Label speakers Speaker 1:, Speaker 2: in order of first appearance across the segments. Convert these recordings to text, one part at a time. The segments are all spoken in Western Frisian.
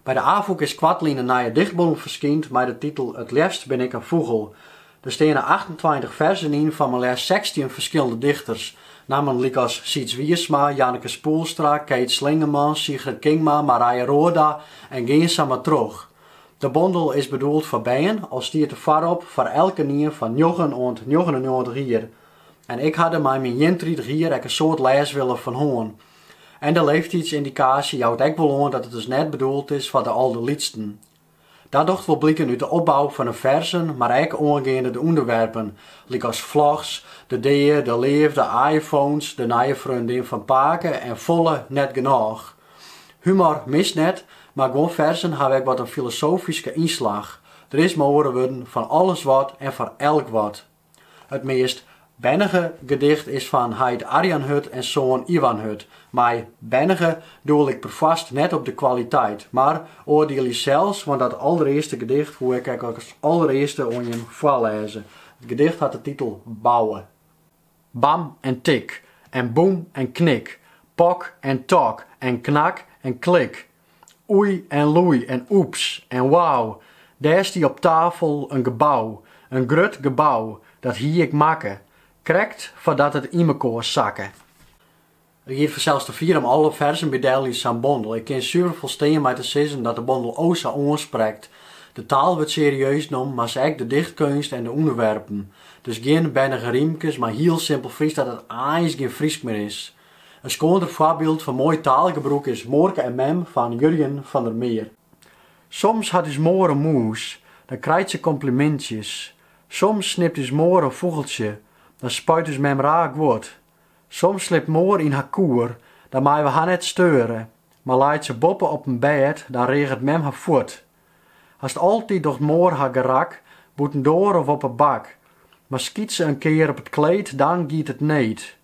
Speaker 1: By de Afûk is koartlyn in nije dichtbondel ferskynd mei de titel It leafst bin ik in fûgel. Der steane achtentweintich ferzen yn fan mar leafst sechstjin ferskillende dichters. Nammen lykas Syds Wiersma, Janneke Spoelstra, Kate Schlingemann, Sigrid Kingma, Marije Roorda en gean sa mar troch. De bondel is bedoeld foar bern, al stiet der foarop foar elkenien fan njoggen oant njoggenennjoggentich jier. En ik ha der mei myn ientritich jier ek in soad lêswille fan hân. En de leeftiidsyndikaasje jout ek wol oan dat it dus net bedoeld is foar de alderlytsten. Dat docht wol bliken út de opbou fan de ferzen, mar ek oangeande de ûnderwerpen, lykas vlogs, de dea, de leafde, iPhones, de nije freondin fan pake en folle net genôch. Humor mist net, mar guon ferzen hawwe ek wat in filosofyske ynslach. Der is mei oare wurden fan alles wat en foar elk wat. It meast bernige gedicht is fan heit Arjan Hut en soan Iwan Hut. Mei bernige doel ik perfoarst net op de kwaliteit, mar oardielje sels, want dat allerearste gedicht woe ik as allerearste oan jim foarlêze. It gedicht hat de titel Bouwe. Bam en tik en boem en knik, pok en tok en knak en klik, Oei en loei en oeps en wau, dêr stie op tafel in gebou, in grut gebou, dat hie ik makke, krekt foardat it ynmekoar sakke. It giet fansels te fier om alle ferzen bydel yn sa'n bondel. Ik kin suver folstean mei te sizzen dat de bondel o sa oansprekt. De taal wurdt serieus nommen, mar sa ek de dichtkeunst en de ûnderwerpen. Dus gjin bernige rymkes, mei hiel simpel Frysk dat it eins gjin Frysk mear is. In skoander foarbyld fan moai taalgebrûk is Moarke en mem fan Jurjen van der Meer. Soms hat ús moar in mûs, dan krijt se komplimintsjes. Soms snipt ús moar in fûgeltsje, dan spuit ús mem raar guod. Soms slipt moar yn har koer, dan meie we har net steure, mar leit se boppe op in bêd, dan reaget mem har fuort. Hast altyd docht moar har gerak, bûtendoar of op 'e bak, mar skyt se in kear op it kleed, dan giet it need.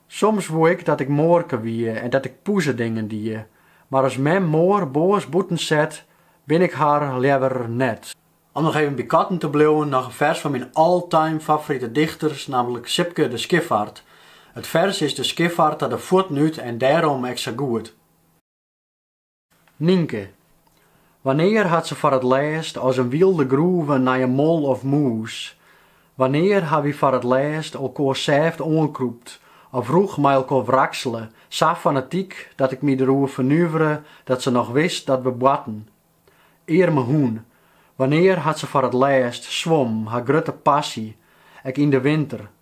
Speaker 1: Soms woe ik dat ik moarke wie en dat ik poezedingen die, mar as mem moar boos bûten set, bin ik har leaver net. Om noch even by katten te bliuwen, noch in fers fan myn all-time favorite dichters, nammentlik Sipke de Schiffart. It fers is De Schiffart ta de fuotten út en dêrom ek sa goed. Nynke. Wannear hat se foar it lêst as in wylde groeven nei in mol of mûs? Wannear ha wy foar it lêst elkoar sêft oankrûpt of rûch mei elkoar wraksele, sa fanatyk dat ik my der oer fernuvere dat se noch wist dat we boarten? Earme hûn. Wannear hat se foar it lêst swom, har grutte passy, ek yn de winter?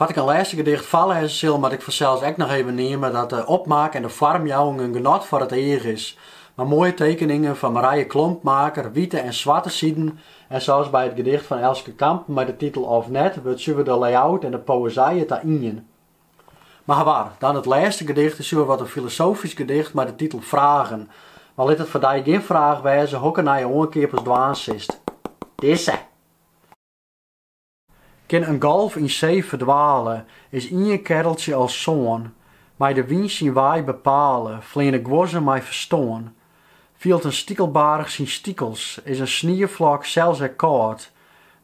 Speaker 1: Foar't ik in lêste gedicht foarlêze sil, moat ik fansels ek noch even neame dat de opmaak en de foarmjouwing in genot foar it each is, mei moaie tekeningen fan Marije Klompmaker, wite en swarte siden en sels by it gedicht fan Elske Kampen mei de titel Of net wurdt suver de layout en de poëzije ta ien. Mar hawar, dan it lêste gedicht is suver wat in filosofysk gedicht mei de titel Fragen, mar lit it foar dy gjin fraach wêze hokker nije oankeap ast dwaan silst. Dizze! Kin in golf yn see ferdwale, is ien kerreltsje al sân, mei de wyn syn wei bepale, fleane guozzen mei ferstân. Fielt in stikelbarich syn stikels, is in snieflok sels ek kâld,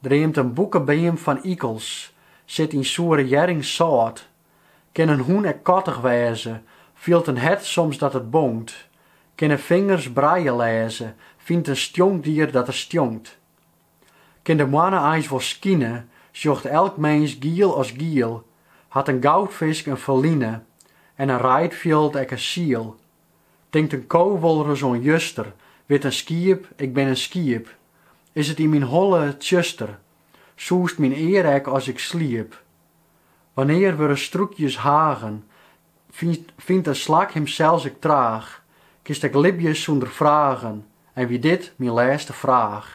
Speaker 1: dreamt in boekebeam fan ikels, sit yn soere hjerring sâlt. Kin in hûn ek kattich wêze, fielt in hert soms dat it bonkt, kinne fingers braille lêze, fynt in stjonkdier dat er stjonkt. Kin de moanne eins wol skine, sjocht elk minsk giel as giel, hat in goudfisk in ferline en in reidfjild ek in siel. Tinkt in ko wolris oan juster, wit in skiep, ik bin in skiep, is it yn myn holle tsjuster, sûzet myn ear ek as ik sliep. Wannear wurde strûkjes hagen, fynt in slak himsels ek traach, kinst ek libje sûnder fragen, en wie dit myn lêste fraach?